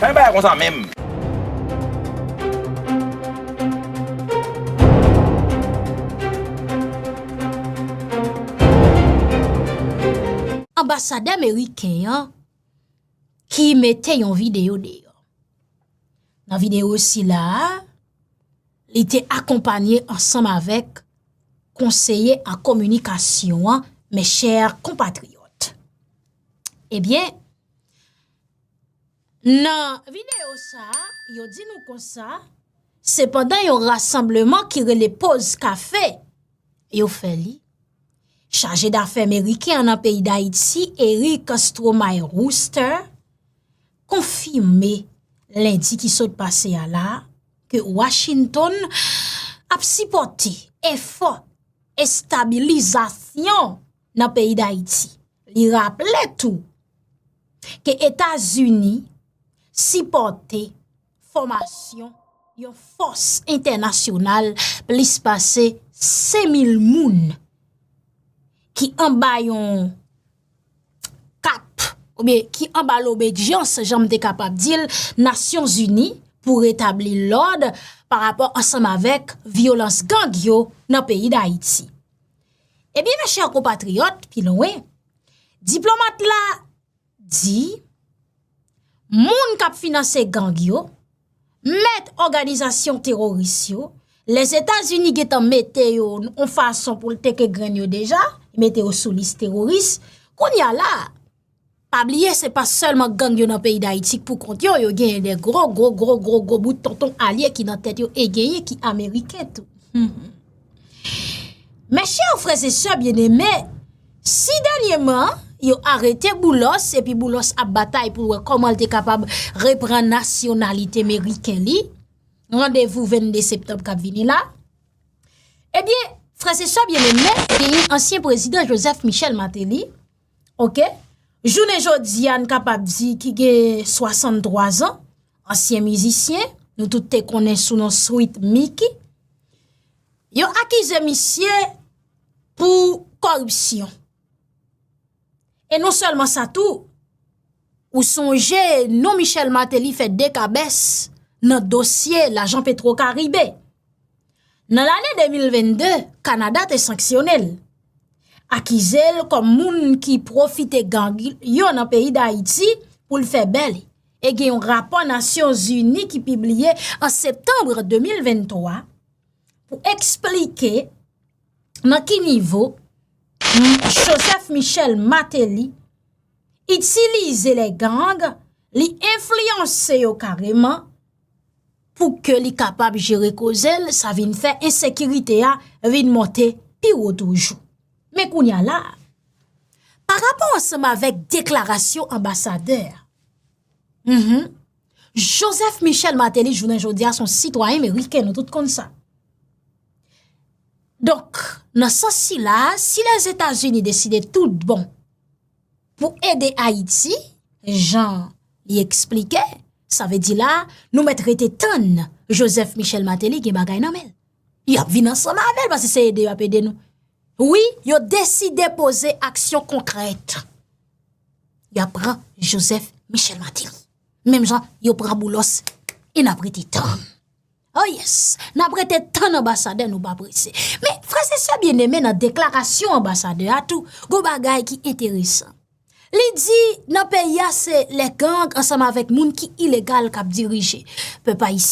Fè bagay konsa menm. Anbasadè meriken an ki mete yon videyo deyò. Nan videyo sila a, li te akonpanye ansanm avèk konseye an kominikasyon an, mè chè kompatriyòt. Ebyen, eh Nan videyo sa a, yo di nou konsa, se pandan yon rasanbleman ki rele Poz Kafe yo fè li. Chaje dafè meriken an nan peyi Dayiti, Eric Stromae Worcester, konfime lendi ki sot pase a la, ke Washington ap sipòte efò estabilizasyon. nan peyi Dayiti. Li raple tou ke Etazini sipòte fòmasyon yon fòs entènasyonal plis pase 5,000 moun ki anba yon kap oubyen ki anba lobedyans jan m te kapab di l Nasyon Zini pou retabli lòd pa rapò ansanm avèk vyolans gang yo nan peyi Dayiti. Ebyen mè chè kompatriyòt, pi lwen, diplomat la di, moun kap finanse gang yo, mèt òganizasyon teroris yo, lèz Etazini getan mete yo yon fason pou l teke grenn yo deja, mete yo sou lis teroris, koun ya la, Pa bliye se pa sèlman gang yo nan peyi dayiti k pou kont yo, yo genyen de gro gro gro gro gro bout tonton alye ki nan tèt yo e genyen ki ameriken tou. Mes chers frères et sœurs bien-aimés, si dènyèman yo arete Boulos epi Boulos ap batay pou l wè kòman l te kapab repran nasyonalite meriken li, randevou 22 septanm k ap vini la, ebyen, frères et sœurs bien-aimés, genyen ansyen prezidan Joseph Michel Martelly, Ok, jounen jodi a n kapab di ki gen 63 zan, ansyen mizisyen, nou tout te konnen sou non Sweet Micky, yo akize misye pou koripsyon. E non sèlman sa tou, Ou sonje non Michel Martelly fè dekabès nan dosye lajan Petro Karibe. Nan lane 2022, Kanada te sanksyone l. Akize l kòm moun ki pwofite gang yo nan peyi Dayiti pou l fè bè li. E gen yon rapò Nasyon Zini ki pibliye an Septanbre 2023 pou eksplike nan ki nivo Joseph Michel Martelly itilize lè gang, li enfliyanse yo kareman pou ke li kapab jere koze l, sa vin fè ensekirite a vin monte pi wo toujou. Men kounye a la, pa rapò ansanm avèk deklarasyon anbasadè a, mh, Joseph Michel Martelly jounen jodi a son sitwayen meriken, nou tout konn sa. Donk, nan sans sila, si Lèzetazini deside tout bon, Pou ede Ayiti, jan li eksplike, sa vle di la, nou mèt rete tann Joseph Michel Martelly gen bagay nan men. Y ap vin ansanm avè l, paske se ede y ap ede nou. Wi, yo deside poze aksyon konkrèt. Y ap pran Joseph Michel Martelly. Menm jan yo pran Boulos, e n ap rete tann. Oh yes! Nap rete tann anbasadè nou pa prese. Men, frè se sè byen eme nan deklarasyon anbasadè a tou, gwo bagay ki enteresan. Li di nan peyi a se le gang ansanm avèk moun ki ilegal kap dirije. Pèp Ayisyen.